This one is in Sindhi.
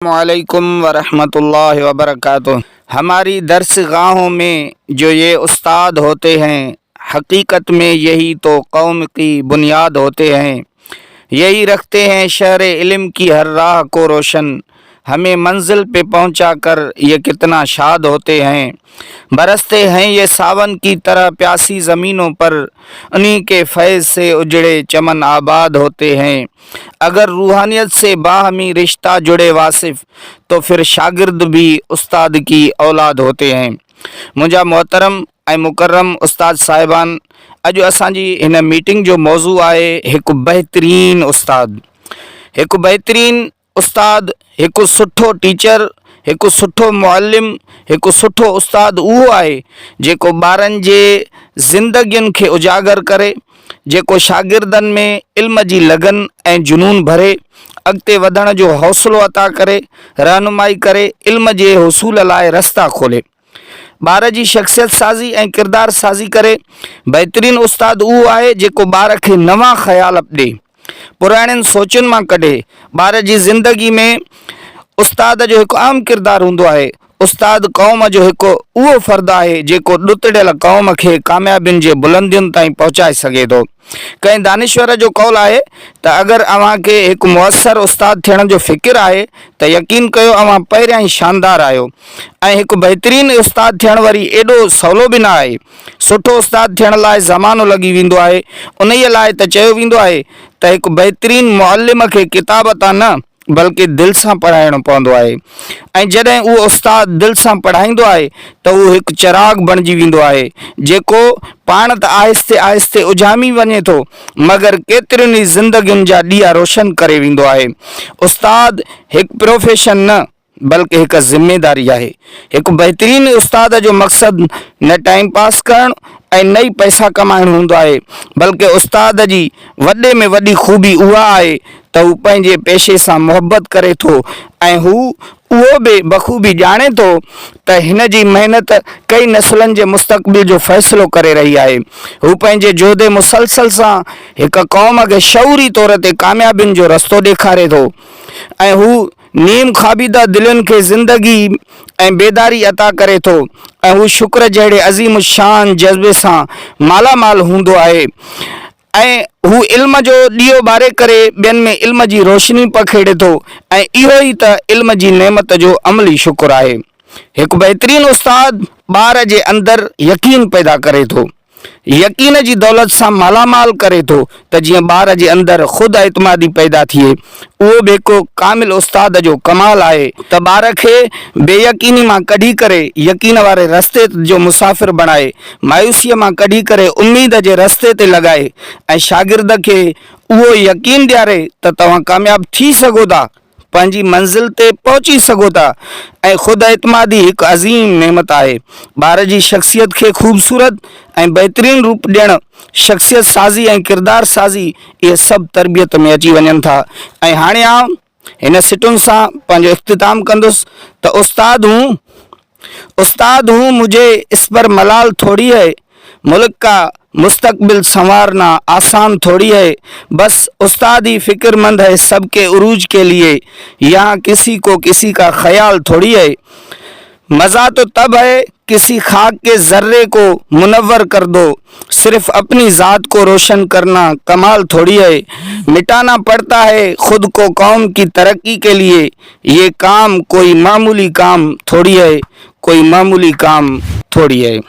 السلام عليڪم ورحمة الله وبرڪاته هماري درس گاهون مين جو يي استاد هوتي هين حقيقت مين يهي تو قوم ڪي بنياد هوتي هين يهي رکتي هين شهر علم ڪي هر راه ڪو روشن همي منزل پي پهونچا ڪر يي ڪتنا شاد هوتي هين برستي هين يي ساون ڪي طرح پياسي زمينون پر انهي ڪي فيض سي اجڙي چمن آباد هوتي هين اگر روحانيت سي باهمي رشته جڙي واصف تو ڦر شاگرد ڀي استاد ڪي اولاد هوتي هي. منهنجا محترم ۽ مڪرم استاد صاحبان اڄ اسان جي هن ميٽنگ جو موضوع آهي هڪ بهترين استاد هڪ بهترين استاد هڪ سٺو ٽيچر هڪ سٺو معلم هڪ سٺو استاد اهو آهي جيڪو ٻارن جي زندگين کي اجاگر ڪري جيڪو شاگردن ۾ علم جي لگن ۽ جنون ڀري، اڳتي وڌڻ جو حوصلو عطا ڪري، رهنمائي ڪري، علم جي حصول لاء رستا کولي. ٻار جي شخصيت سازي ۽ ڪردار سازي ڪري، بهترين استاد اهو آهي جيڪو ٻار کي نوان خيال ڏي. پراڻين سوچن مان ڪڍي ٻار جي زندگي ۾ استاد جو هڪ اهم ڪردار هوندو آهي استاد قوم جو هڪ اهو فرد آهي جيڪو ڏتڙيل قوم کي ڪاميابين جي بلندين تائين پهچائي سگهي ٿو ڪنهن دانشور جو قول آهي ته اگر اوهان کي هڪ موثر استاد ٿيڻ جو فڪر آهي ته يقين ڪيو اوهان پهريان ئي شاندار آهيو ۽ هڪ بهترين استاد ٿيڻ وري ايڏو سولو به نه آهي سٺو استاد ٿيڻ لاء زمانو لڳي ويندو آهي، انهيء لاء ته چيو ويندو آهي ته هڪ بهترين معلم کي ڪتاب تان نه بلڪه دل سان پڙهائڻو پوندو آهي ۽ جڏهن اهو استاد دل سان پڙهائيندو آهي ته اهو هڪ چراغ بڻجي ويندو آهي جيڪو پاڻ ته آهستي آهستي اجهامي وڃي ٿو مگر ڪيترين ئي زندگين جا ڏيئا روشن ڪري ويندو آهي. استاد هڪ پروفيشن نه. بلڪه هڪ ذميداري آهي. هڪ بهترين استاد جو مقصد نه ٽائيم پاس ڪرڻ ۽ نه ئي پئسا ڪمائڻ هوندو آهي، بلڪه استاد جي وڏي ۾ وڏي خوبي اها آهي ته هو پنهنجي پيشي سان محبت ڪري ٿو ۽ هو اهو به بخوبي ڄاڻي ٿو ته هن جي محنت ڪئي نسلن جي مستقبل جو فيصلو ڪري رهي آهي. هو پنهنجي جهد مسلسل سان هڪ قوم کي شعوري طور تي ڪاميابين جو رستو ڏيکاري ٿو ۽ هو نيم خوابيده دلين کي زندگي ۽ بيداري عطا ڪري ٿو ۽ هو شڪر جهڙي عظيم الشان جذبي سان مالا مال هوندو آهي ۽ هو علم جو ڏيئو ٻاري ڪري ٻين ۾ علم جي روشني پکيڙي ٿو ۽ اهو ئي ته علم جي نعمت جو عملي شڪر آهي. هڪ بهترين استاد ٻار جي اندر يقين پيدا ڪري ٿو. يقين جي دولت سان مالا مال ڪري ٿو ته جيئن ٻار جي اندر خود اعتمادي پيدا ٿئي. اهو به هڪ ڪامل استاد جو ڪمال آهي ته ٻار کي بي يقيني مان ڪڍي ڪري يقين واري رستي جو مسافر بڻائي، مايوسيء مان ڪڍي ڪري اميد جي رستي تي لڳائي ۽ شاگرد کي اهو يقين ڏياري ته توهان ڪامياب ٿي سگهو ٿا. پنهنجي منزل تي پهچي سگهو ٿا ۽ خود اعتمادي هڪ عظيم نعمت آهي. ٻار جي شخصيت کي خوبصورت ۽ بهترين روپ ڏيڻ، شخصيت سازي ۽ ڪردار سازي اهي سڀ تربيت ۾ اچي وڃن ٿا ۽ هاڻي آئون هن سٽون سان پنهنجو اختتام ڪندس ته استاد هون، استاد هون مجهي اس پر ملال ٿوڙي هي ملڪ ڪا مستقبل سنوارنا آسان ٿوڙي هي بس استاد هي فڪر مند هي سب ڪي عروج ڪي ليي يهان ڪسي ڪو ڪسي ڪا خيال ٿوڙي هي مزا تو تب هي ڪسي خاڪ ڪي ذري ڪو منور ڪر دو صرف اپني ذات ڪو روشن ڪرنا ڪمال ٿوڙي هي مٽانا پڙتا هي خود ڪو قوم ڪي ترقي ڪي ليي هيء ڪام ڪوئي معمولي ڪام ٿوڙي اهي، ڪوئي معمولي ڪام ٿوڙي اهي.